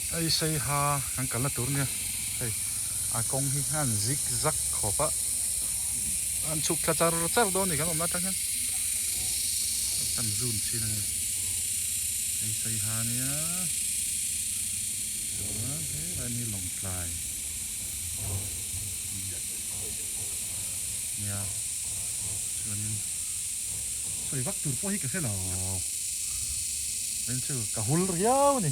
Hei sei ha kan kalna tur nia hei a kawng hi a han zig zag khawp a an chhuk thla char char dawn a ni kan awmna atang hian kan zun chin a ni hei sei ha nia chuan he a ni lawngtlai. nia chuanin sawi vak tur pawh hi ka hre lo chu ka hul riau ni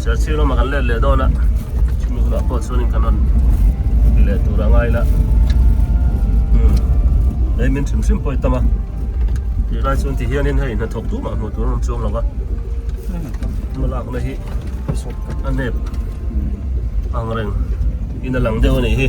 Serchhip lama kan let leh dawn a, chumi hunah pawh chuan in kan rawn ti leh tur a ngai la. Hmm. Ei min thim thim pawh i tam a. Tih lai chuan ti hianin hei hna thawk tumah hmuh tur a rawn chuang lo va. Hma lakna hi a nep angreng in a lang deuh a nih hi.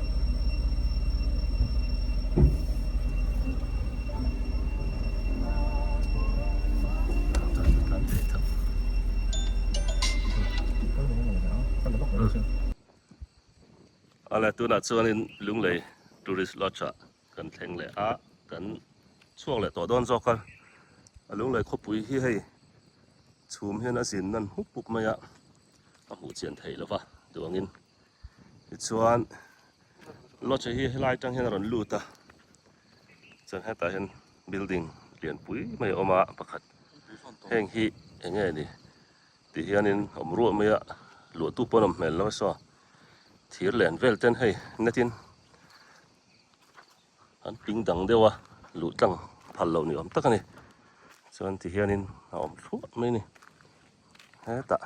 Ala tuna chuanin Lunglei Tourist Lodge ah kan thleng leh a, kan chhuak leh tawh dawn zawk a. A Lunglei khawpui hi hei chhum hian a zin nan hmup hmup mai a, a hmuh chian theih lo va duangin. tichuan lodge hi helai atang hian a rawn lut a chuan hetah hian building lian pui mai a awm a pakhat heng hi eng nge ni tih hianin a awm ruah mai a luahtu pawh a nawm hmel lo so thir len vel ten hei net in an ping dang deuh a luh tlang phal loh ni awm tak a ni chuan ti hianin a awm thluah mai a ni hetah.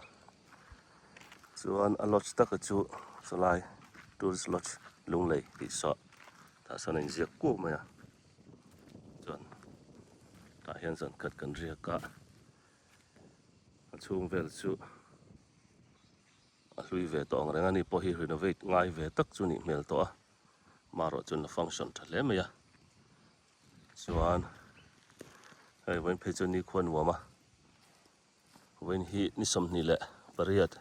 Chuan a lodge taka chu chulai tourist lodge Lunglei tih suah tah sawn a in ziak kuau mai a, chuan tah hian zawn khat kan riak a, a chhung vel chu a hlui ve tawh ang reng a, ni pawh hi renovate ngai ve tak chu nih hmel tawh a, marawh chuan a function tha hle mai a, chuan hei vawiin phei chuan nikhua nuam a. Vawiin hi ni sawmhnih leh pariat,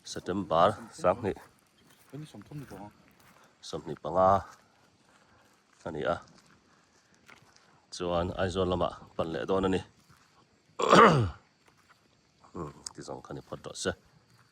September, sanghnih sawmhnih panga a ni a, chuan Aizawl lamah pan leh dawn a ni. Ti zawng kha ni phawt rawh se.